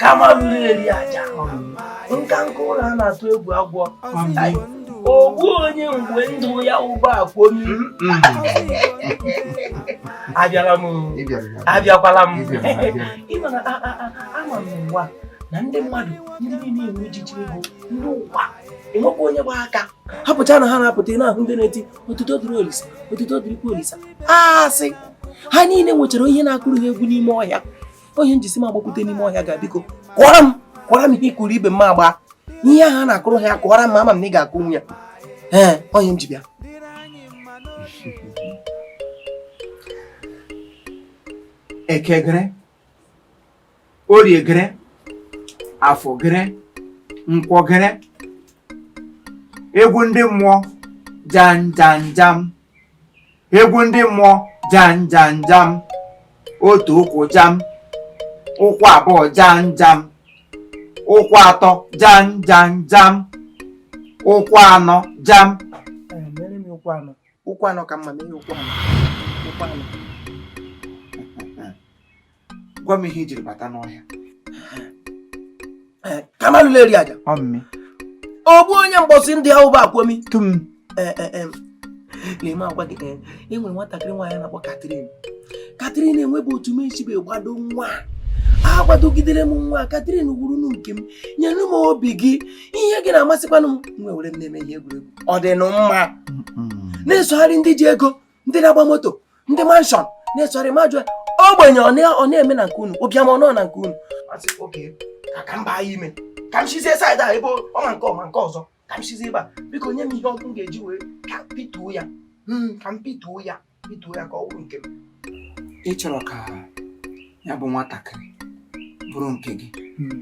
kamalu eri aja nka nka ụlọ a na-atụ egwu agwọ ogbu onye mgbe ndụ ya ụgbọ akwomi abịara m abịakwala m ị ma na ama m ụwa na ndị mmadụ ndị niile enwe ejiji ego ndị ụwa enwekwa onye gba aka ha pụcha na ha na-apụta na ahụ ndị na-eti otuto dịrị olisa otuto dịrịkwa olisa a sị ha niile nwechara onye na-akụrụ ha egwu n'ime ọhịa ọ ihe m ji sị m agbakwute n'ime ọhịa ga biko kụọra m kụọra m ihe ị kụrụ ibe m agba ihe ahụ a na-akụrụ ha ya kụọra m ama m na ị ga-akụnwu ya ee ọ ihe m ji bịa ekegere oriegere afọgere nkwọgere egwu ndị mmụọ janjanjam egwu ndị mmụọ janjanjam otu ụkwụ jam ụkwụ abụọ janjam ụkwụ atọ janjanjam ụkwụ anọ jam Eh, mere m ụkwụ anọ ụkwụ anọ ka mma mee ụkwụ anọ ụkwụ anọ gwa m ihe i jiri bata n'ọhịa eh, kamalu eri aja ogbu onye mgbọsị ndị ahụ bụ akwomi tum eh, eh, leme agwa gị e nwere nwatakịrị nwaanyị a na-akpọ Catherine Catherine enwebe otu m esibe gbado nwa agbadogidere m nwa Catherine wụrụ nụ nke m nyere m obi gị ihe gị na-amasịkwanụ m nwe were m na-eme ihe egwuregwu ọ dị nụ mma na-esogharị ndị ji ego ndị na-agba moto ndị mansion na-esogharị ma jụọ ogbenye ọ na-eme na nke unu ụbịam ọ nọ na nke unu ka m baa ya ime ka m sizie side a ebe ọma nke ọma nke ọzọ ka m sizie ebe a biko nye m ihe ọkụ m ga-eji wee ka pituo ya hmm, ka m pituo ya pituo ya ka ọ bụrụ nke m ị chọrọ ka ya bụ nwatakịrị bụrụ nke gị hmm.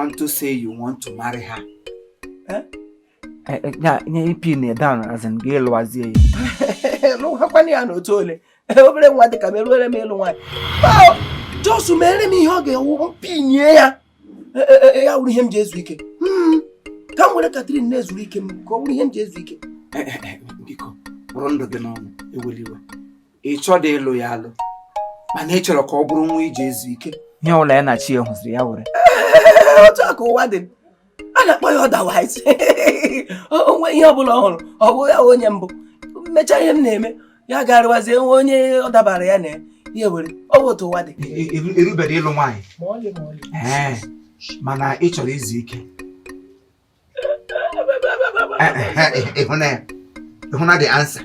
unto say you want to marry her eh? Eh, eh, ya nye i pin her down as in gị lụwazie ya lụwakwanụ ya n'otu ole obere nwa dịka m erubere m ịlụ nwaanyị just mere m ihe ọ ga-awụ m pinie ya ya wụrụ ihe m ji ezu ike hmm, ka m were Catherine na-ezuru ike m ka ọ wụrụ ihe m ji ezu ike eh, biko bụrụ ndụ gị n'ọnụ ewela iwe ị chọdị ịlụ ya alụ mana ị chọrọ ka ọ bụrụ nwa i ji ezu ike ihe ụlọ ya na chi ya hụziri ya were otu a ka ụwa dị a na-akpọ ya otherwise o nwee ihe ọbụla ọ hụrụ ọ bụ ya onye mbụ m mechaa ihe m na-eme ya garịwazie nwe onye ọ dabara ya na ya ya were ọ bụ otu ụwa dị erubere ịlụ nwaanyị Ee, mana ị chọrọ izu ike ị hụna ya ị hụna the answer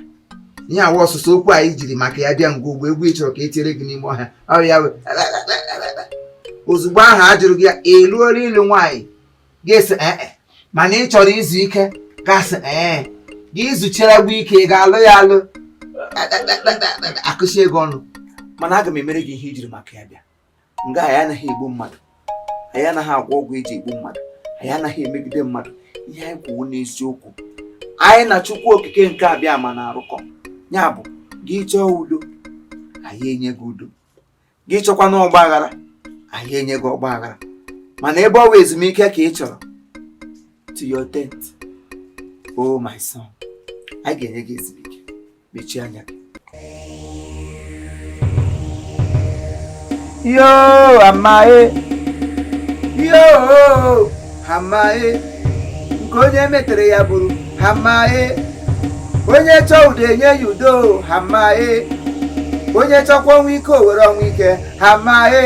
ihe a wụ ọsụsụ okwu anyị jiri maka ya bịa ngwa ugbu a egwu ị chọrọ ka e tiere gị n'ime ọhịa ọrịa ya wee ozugbo ahụ a jụrụ gị ya eruola ịlụ nwaanyị gị asị ee mana ị chọrọ izu ike gị asị ee gị izucheragbu ike ị ga-alụ ya alụ akụchi ego ọnụ mana aga m emere gị ihe i jiri maka ya bịa nga anyị anaghị egbu mmadụ anyị anaghị agwọ ọgwụ eji egbu mmadụ anyị anaghị emegide mmadụ ihe anyị kwụ wụ n'eziokwu anyị na chukwu okike nke abịama na-arụkọ ya bụ gị chọọ udo anyị enye gị udo gị chọkwanụ ọgba aghara anyị enye gị ọgba aghara mana ebe ọ bụ ezumike ka ị chọrọ to your tent oh my son anyị ga-enye gị ezumike mechie anya yo hamae yo hamae nke onye metere ya buru hamae onye chọọ udo enye ya udo hamae onye chọkwa ọnwụ ike o were ọnwụ ike hamae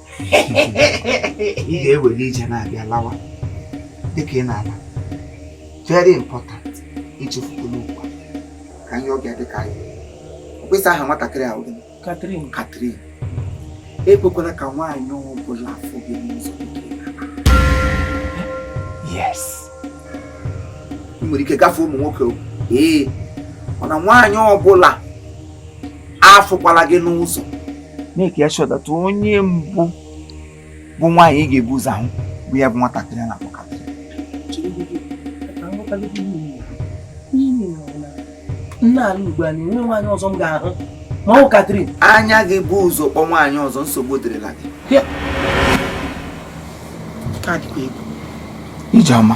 ị ga-ewere ije na-abịa lawa dịka ị na-ala very important echefukwala ugbu a ka anyị ọbịa dịka anyị mkpesa aha nwatakịrị a wụ gịnị Catherine Catherine ekwekwala ka nwaanyị ọ bụla fụ gị n'ụzọ yes ị nwere ike gafee ụmụ nwoke ee mana nwaanyị ọbụla afụkwala gị n'ụzọ make ya sure that onye mbụ bụ nwaanyị ị ga-ebu ụzọ ahụ bụ ya bụ nwatakịrị a na-akpọ Catherine m na-ala ugbu a na enweghị nwaanyị ọzọ m ga-ahụ ma ọ Catherine anya gị bu ụzọ kpọ nwaanyị ọzọ nsogbu dịrịla gị ije ọma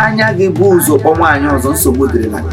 anya gị bu ụzọ kpọ nwaanyị ọzọ nsogbu dịrịla gị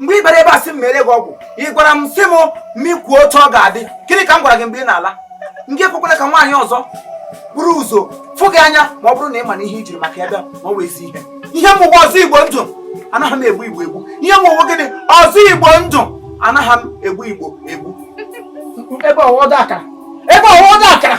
mgbe ị bịara ebe a sị m meere gị ọgwụ ị gwara m sị m mụ kwuo otu ọ ga-adị gịnị ka m gwara gị mgbe ị na-ala gị ekwekwala ka nwaanyị ọzọ buru ụzọ fụ gị anya ma ọ bụrụ na ị ma na ihe i jiri maka ya bịa ma ọ wụ ezi ihe ihe m wụ wụ ọzọ igbo ndụ anaghị m egbu igbo egbu ihe m wụ wụ gịnị ọzọ igbo ndụ anaghị m egbu igbo egbu ebe ọwọdọ akara ebe ọwọdọ akara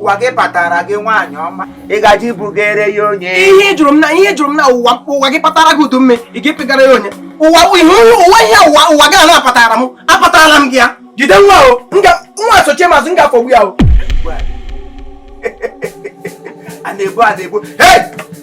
ụwa gị patara gị nwaanyị ọma ị gaji ibugere ya onye ihe jụrụ m na ihe jụrụ m na ụwa ụwa gị patara gị udu mme ị ga-epegara ya onye ụwa ihe ụwa ihe ụwa ụwa gị na-apatara m apatara m gị ya jide nwa o nwa sochie m azụ m ga-afọgbu ya o a na-ebu a na-ebu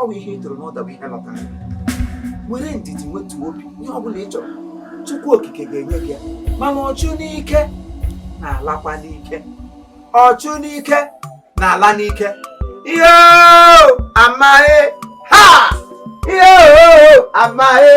ọ bụ ihe ị tụrụ n'ụda bụ ihe lọtara nwere ndidi nwetu obi ihe ọ bụla ị chọrọ Chukwu okike ga-enye gị ya mana ọchụ n'ike na-alakwa n'ike ọchụ n'ike na-ala n'ike ihe amaghị ha ihe amaghị